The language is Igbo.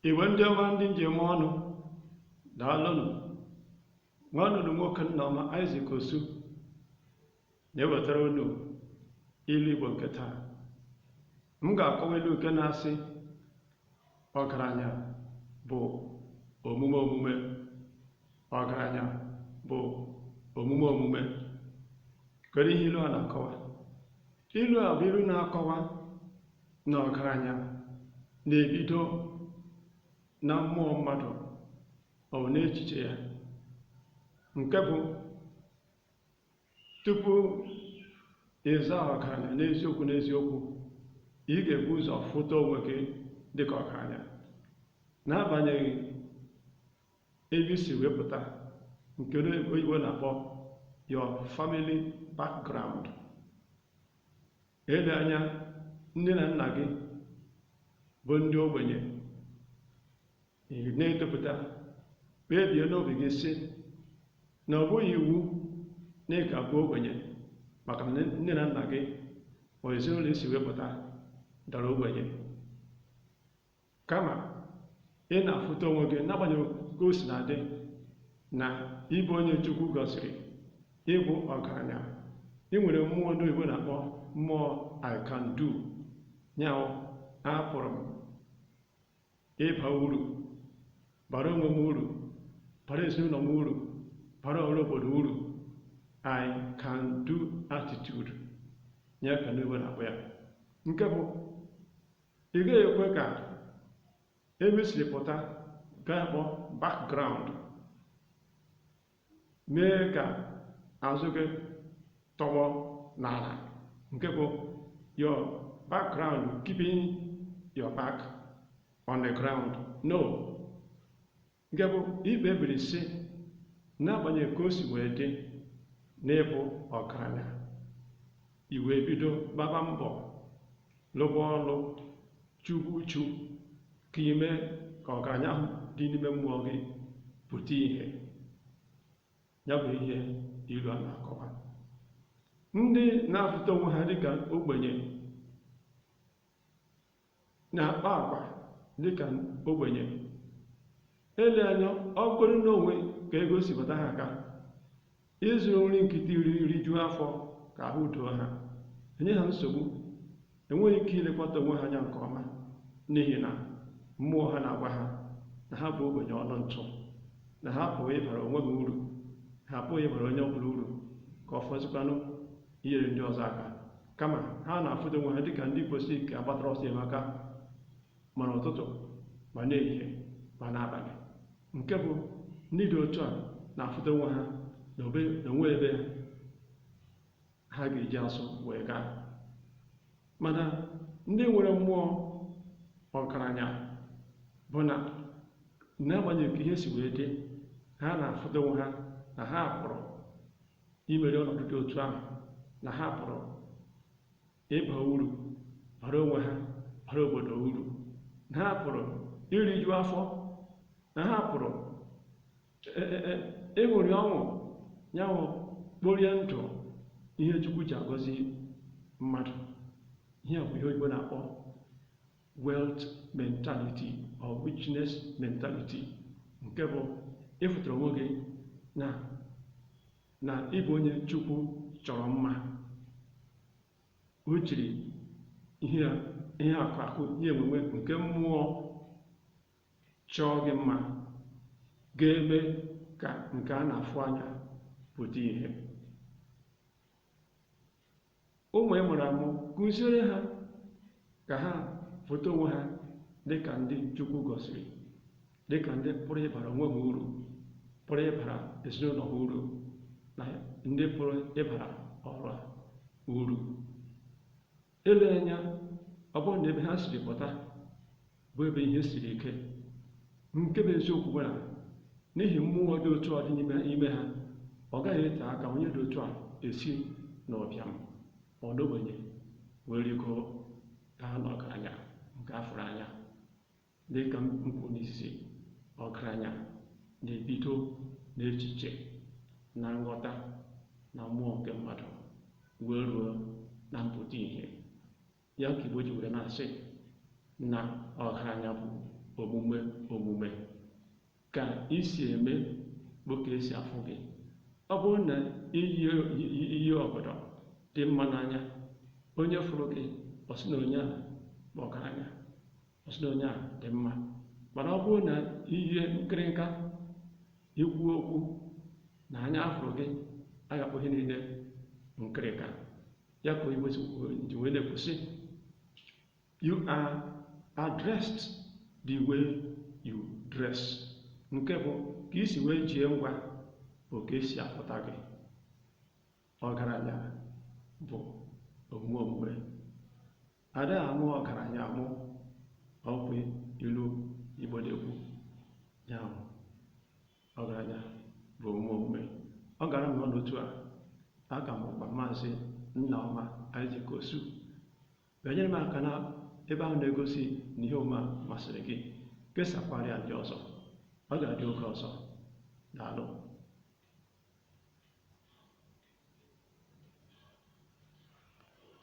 Igbo ndị ọma ndị m ji eme ọnụ daalụnụ nwanne unu nwoke Nneoma Isaac Osu na-ewetara unu ilu Igbo nke taa m ga-akọwa ilu nke na-asị ọgaranya bụ omume omume ọgaranya bụ omume omume kedu ihe ilu a na-akọwa ilu a bụ ilu na-akọwa na ọgaranya na-ebido na mmụọ mmadụ ọ bụ n'echiche ya nke bụ tupu ịza ọgaranya n'eziokwu n'eziokwu ị ga-ebu ụzọ fụta onwe gị dịka ọgaranya n'agbanyeghị ebe i si wee pụta nke ndị oyibo na-akpọ your family background Ele anya nne na nna gị bụ ndị ogbenye na-etopụta kpebie n'obi gị sị na ọ bụghị iwu na ị ga-abụ ogbenye maka na nne na nna gị ma ezinụlọ i si wee pụta dara ogbenye Kama ị na-afụta onwe gị n'agbanyeghị ka o si na-adị na ị bụ onye Chukwu gọziri, ị bụ ọgaranya, ị nwere mmụọ ndị oyibo na-akpọ mmụọ I can do, ya bụ apụrụ m ịba uru, bara onwe m uru, bara ezinụlọ m uru, bara ọra obodo uru, I can do attitude, ya ka ndị oyibo na-akpọ ya, nke bụ Ị gaghị ekwe ka ebe i si pụta nke a kpọ background mee ka azụ gị tọgbọ n'ala nke bụ your background keeping your back on the ground no Nke bụ i kpebiri sị, n'agbanyeghị ka o si wee dị na ị bụ ọgaranya, i wee bido gbaba mbọ, lụba ọlụ, chuba uchu ka i mee ka ọgaranya ahụ dị n'ime mmụọ gị pụta ihe. Ya bụ ihe ilu a na-akọwa. Ndị na-afụta onwe ha dịka ogbenye na-akpa agwa dị ka ogbenye. Ele anya ọ bụrụ na o nwee ka ego si bata ha aka, ịzụrụ nri nkịtị rie rijuo afọ ka ahụ doo ha, enye ha nsogbu, enweghị ike ilekwata onwe ha anya nke ọma n'ihi na mmụọ ha na-agwa ha na ha bụ ogbenye ọnụ ntụ, na ha apụghị ịbara onwe ha uru, ha apụghị ịbara onye ọ bụla uru, ka ọ fọzikwanụ inyere ndị ọzọ aka kama ha na-afụta onwe ha dịka ndị kwesịrị ka a gbatara ọsọ enyemaka ma n'ụtụtụ ma n'ehihie ma n'abalị nke bụ ndị dị otu a na-afụta onwe ha na o nwe ebe ha ga-eji azụ wee gaa mana ndị nwere mmụọ ọgaranya bụ na n'agbanyeghị ka ihe si wee dị ha na-afụta onwe ha na ha pụrụ imeri ọnọdụ dị otu ahụ na ha pụrụ ịba uru bara onwe ha bara obodo uru na ha pụrụ iriju afọ na ha pụrụ e, e, e, ịṅụrị ọṅụ nya bụ kporie ndụ ihe chukwu ji agọzi mmadụ ihe a bụ ihe oyibo na-akpọ wealth mentality or richness mentality nke bụ ịfụtara onwe gị na na ị bụ onye chukwu chọrọ mma o jiri ihe a- ihe akụ akụ ihe enwenwe nke mmụọ chọọ gị mma ga-eme ka nke a na-afụ anya pụta ihe Ụmụ ị mụrụ amụ, kụziere ha ka ha fụta onwe ha dị ka ndị Chukwu gọziri, dị ka ndị pụrụ ịbara onwe ha uru, pụrụ ịbara ezinụlọ ha uru, na ndị pụrụ ịbara ọra uru. Eleghị anya, ọ bụrụ na ebe ha siri pụta bụ ebe ihe siri ike nke bụ eziokwu bụ na n'ihi mmụọ dị otu a dị n'ime ha ọ gaghị ete aka onye dị otu a esi n'ụbịam ma ọ n'ogbenye wee rigo gaa n'ọgaranya nke a fụrụ anya dịka m kwu n'izizi ọgaranya na-ebido n'echiche na nghọta na mmụọ nke mmadụ wee ruo na mpụta ihe Ya ka Igbo ji were na-asị na ọgaranya bụ omume omume. Ka i si eme bụ ka e si afụ gị. Ọ bụrụ na i yie ọgọdọ dị mma n'anya, onye fụrụ gị ọ sị na onye a bụ ọgaranya, ọ sị na onye a dị mma. Mana ọ bụrụ na i yie nkịrịnka, ikwu okwu na anya a fụrụ gị, a ga-akpọ ihe niile nkịrịnka. ya ka oyibo ji wee na-ekwu sị you are addressed the way you dress nke bụ ka i si wee jie ngwa bụ ka e si afụta gị ọgaranya bụ omume omume Ada amụ ọgaranya amụ ọkwa ilu Igbo na-ekwu ya bụ ọgaranya bụ omume omume ọ gara nnọọ n'otu a aka m bụkwa maazị Nnaọma Isaac Osu bịanyere m aka na ebe ahụ na-egosi na ihe omume masịrị gị kesakwara ya ndị ọzọ ọ ga-adị oge ọzọ daalụ